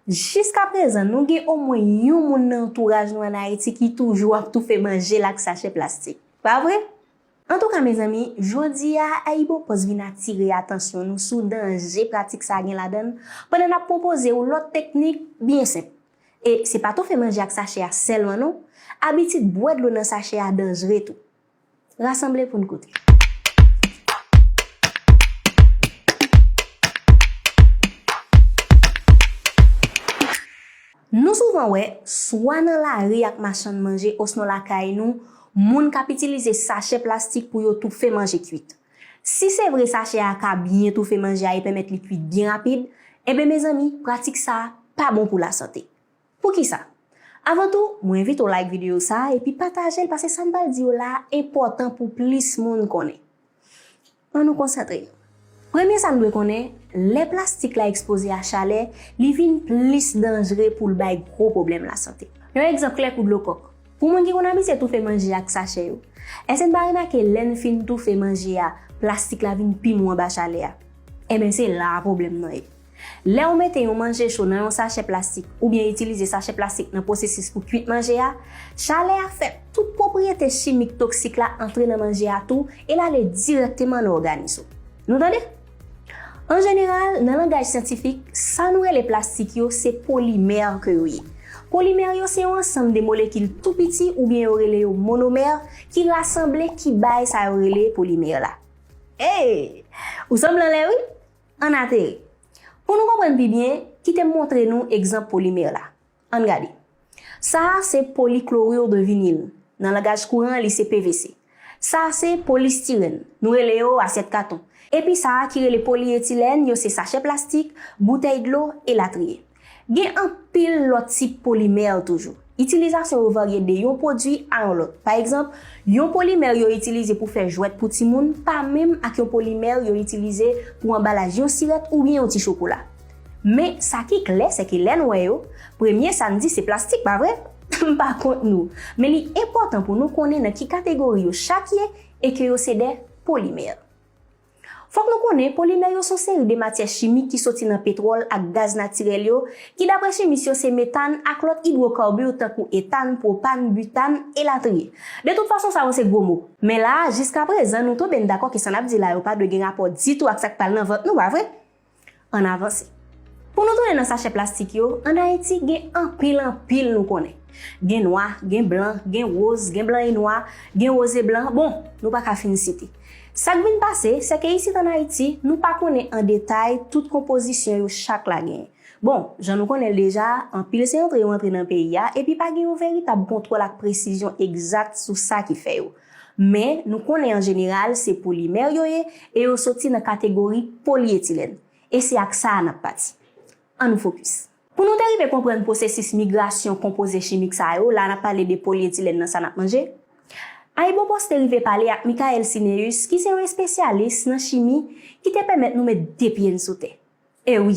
Jiska prezan, nou gen omwen yon moun nan antouraj nou an Ayiti ki toujou ap toufe manje l ak sachè plastik. Pa vre? Antouka mezanmi, jodi a AyiboPost vin atire atansyon nou sou danje pratik sa a gen ladan l pandan n ap pwopoze ou lòt teknik byen senp. E se pa toufe manje ak sachè a sèlman non, abitid bwè dlo nan sachè a danjre tou. Rasanble pou n koute. Nou souvan wè, swa nan lari ak machann manje osnon lakay nou, moun k ap itilize sachè plastik pou yo toufe manje kuit. Si se vre sachè a ka byen toufe manje a e pèmèt li kuit byen rapid, enben mezanmi pratik sa a pa bon pou lasante. Poukisa? Avan tou, mwen envite w like videyo sa a epi pataje l pase sa m pral di yo la a enpòtan pou plis moun konnen. An nou konsantre nou. Premye sa n dwe konnen, lè plastik la ekspoze a chalè, li vin plis danjre pou l bay gwo pwoblèm lasante. Yon egzanp klè kou dlo kòk, pou moun ki konn abitye toufe manje ak sachè yo, èske n pa remake lè n fin toufe manje a, plastik la vin pi mou anba chalè a? Enben se la a pwoblèm nan ye. Lè ou mete yon manje cho nan yon sachè plastik oubyen itilize sachè plastik nan pwosesis pou kuit manje a, chalè a fè tout pwopriyete chimik toksik la antre nan manje a tou e l ale dirèkteman nan òganis ou. Nou tande? An jeneral, nan langaj syantifik, sa nou rele plastik yo se polimè ke yo ye. Polimè yo se yon ansanm de molekil tou piti oubyen yo rele yo monomè ki rasanble ki bay sa yo rele polimè la. Hey! Ou sanble anlè wi! Ann ateri. Pou nou konprann pi byen, kite m montre nou egzanp polimè la. Ann gade. Sa a se poliklorur de vinil. Nan langaj kouran li se PVC. Sa a se polistirèn. Nou rele yo asyèt katon. Epi sa a ki rele polyetilèn yo se sachè plastik, boutèy dlo, elatriye. Gen anpil lòt tip polimè toujou. Itilizasyon yo varye de yon pwodui a yon lòt. Pa egzanp, yon polimè yo itilize pou fè jwèt pou timoun pa menm ak yon polimè yo itilize pou anbalaj yon sirèt oubyen yon ti chokola. Men, sa ki klè sèke lè n wè yo, premye sa n di se plastik, pa vre? M pa kont nou, men li enpòtan pou nou konnen nan ki kategori yo chak ye e ke yo se de polimè. Fòk nou konnen polimè yo son seri de matyè chimik ki soti nan petwòl ak gaz natirèl yo, ki dapre chimis yo se metàn ak lòt idwokarbur tankou etàn, pwopàn, butàn, elatriye. De tout fason sa yo se gwo mo. Men la a, jiskaprezan, nou tou benn dakò ke sa n ap di la yo pa dwe gen rapò ditou ak sa k pral nan vant nou, pa vre? Ann avanse. Pou nou tounen nan sachè plastik yo, ann Ayiti gen anpil anpil nou konnen. Gen nwa, gen blan, gen woz, gen blan e nwa, gen woz e blan, bon, nou pa ka fin site. Sa k vin pase, se ke isit ann Ayiti, nou pa konnen an detay tout konpozisyon yo chak la genyen. Bon, jan nou konnen l deja, anpil se antre yo antre nan peyi a, epi pa gen yon veritab kontwòl ak presizyon egzat sou sa ki fè yo. Men, nou konnen an jeneral se polimè yo ye e yo soti nan kategori polyetilèn. E se ak sa a n ap pati. An nou fokis. Pou nou te rive konprann pwosesis migrasyon konpoze chimik sa yo, la a n ap pale de polyetilèn nan sa n ap manje, AyiboPost te rive pale ak Michael Cinéus ki se yon espesyalis nan chimi ki te pèmèt nou met de pye n sou tè. E wi!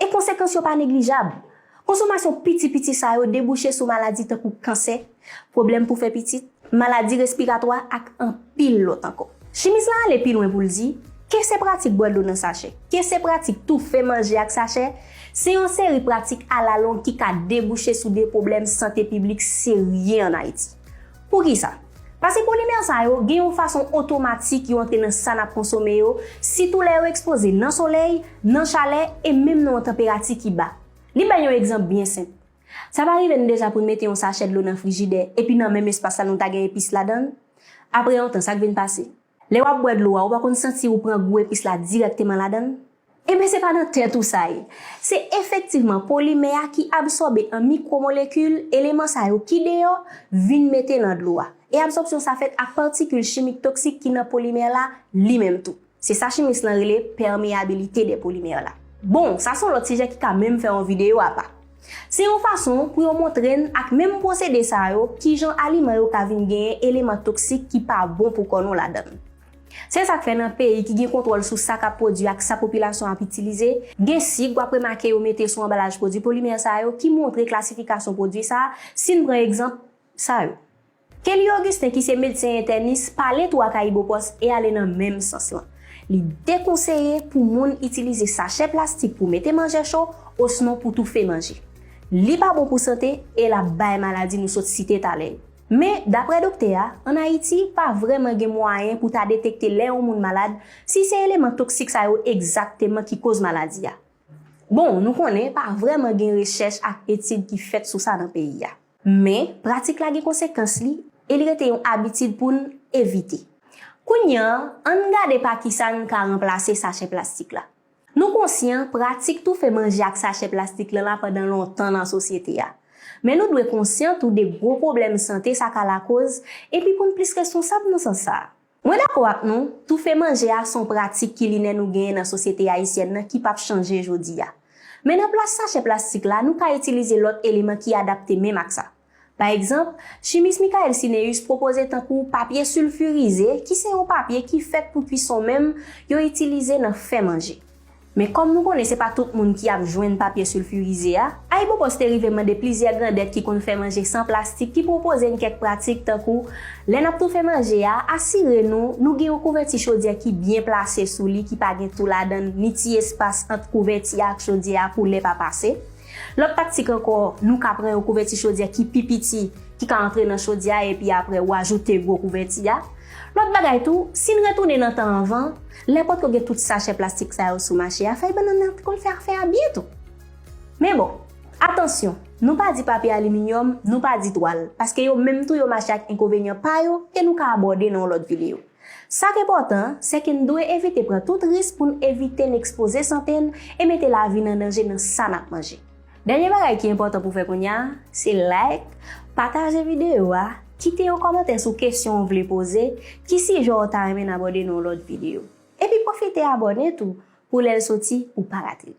E konsekans yo pa neglijab. Konsomasyon piti piti sa yo debouche sou maladi tankou kansè, pwoblèm pou fè pitit, maladi respiratwa ak anpil lòt ankò. Chimis la ale pi lwen pou l di, ke se pratik bwè dlo nan sachè, ke se pratik toufe manje ak sachè, se yon seri pratik alalong ki ka debouche sou de pwoblèm sante piblik serye an Ayiti. Poukisa? Pase polimè sa yo gen yon fason otomatik yo antre nan sa n ap konsome yo, sitou lè yo ekspoze nan solèy, nan chalè e menm nan yon tanperati ki ba. Li bay yon egzanp byen senp, Sa pa rive n deja pou n mete yon sachè dlo nan frijidè epi nan menm espas la nou ta gen epis ladan l? Apre yon tan, sa k vin pase? Lè wap bwè dlo a ou pa konn santi ou pran gou epis la dirèkteman ladann? Enben se pa nan tèt ou sa ye. Se efektivman polimè a ki absòbe an mikwomolekil eleman sa yo ki deyò vin mete nan dlo a. E absòpsyon sa fèt ak patikil chimik toksik ki nan polimè la li menm tou. Se sa chimis lan rele permeabilité des polymères la. Bon, sa son lòt sijè ki ka menm fè yon videyo apa. Se yon fason pou yo montre n ak menm pwosede sa yo kijan aliman yo ka vin genyen eleman toksik ki pa bon pou kò nou ladan l. Se sa k fè nan peyi ki gen kontwòl sou sa k ap pwodui ak sa popilasyon ap itilize, gen sig w ap remake yo mete sou anbalaj pwodui polimè sa yo ki montre klasifikasyon pwodui sa a, si n pran egzanp sa yo. Kelly Augustin ki se medsen entènis pale tou ak AyiboPost e ale nan menm sans lan. Li dekonseye pou moun itilize sachè plastik pou mete manje cho osnon pou toufe manje. Li pa bon pou sante e l ap bay maladi nou sot site talè yo. Men, daprè doktè a, ann Ayiti, pa vrèman gen mwayen pou ta detekte lè yon moun malad si se eleman toksik sa yo egzakteman ki koz maladi a. Bon, nou konnen pa vrèman gen rechèch ak etid ki fèt sou sa nan peyi a. Men, pratik la gen konsekans li e li rete yon abitid pou n evite. Kounye an, an n gade pa ki sa n ka ranplase sachè plastik la. Nou konsyan pratik toufe manje ak sachè plastik lan la pandan lontan nan sosyete a. Men nou dwe konsyan tou de gwo pwoblèm sante sa ka lakoz epi pou n plis responsab nan sans sa a. Mwen dakò ak nou, toufe manje a son pratik kilinè nou genyen nan sosyete ayisyèn nan ki pap chanje jodi a. Men nan plas sachè plastik la nou ka itilize lòt eleman ki adapte menm ak sa. Pa egzanp, chimis Michael Cinéus pwopoze tankou papye silfirize ki se yon papye ki fèt pou kwison menm yo itilize nan fè manje. Men kòm nou konnen se pa tout moun ki ap jwenn papye silfirize a, AyiboPost te rive mande plizyè grandèt ki konn fè manje san plastik ki pwopoze n kèk pratik tankou, lè n ap toufe manje a, asire nou nou gen yon kouvèti chodyè ki byen plase sou li ki pa gen tou ladan l ni ti espas ant kouvèti a ak chodyè a pou lè pa pase. Lòt taktik ankò, nou ka pran yon kouvèti chodyè ki pi piti ki ka antre nan chodyè a epi apre ou ajoute gwo kouvèti a. Lòt bagay tou, si n retounen nan tan anvan, Lè potko gen tout sachè plastik sa yo sou mache a, fèy bannann nan te konn fè afè a byen tou. Men bon, atansyon, nou pa di papye aliminyòm, nou pa di twal, paske yo menm tou yo mache ak enkovenyan pa yo ke nou ka abòde nan yon lòt videyo. Sa k enpòtan an, sè ke n dwe evite pran tout risk pou n evite n ekspoze sante n e mete lavi n an danje nan sa n ap manje. Dènye bagay ki enpòtan pou w fè kounya a, se like, pataje videyo a, kite yon kòmantè sou kesyon ou vle poze, ki sijè w ta renmen n abòde nan yon lòt videyo. Epi pwofite abòne tou pou lè l soti ou pa rate l.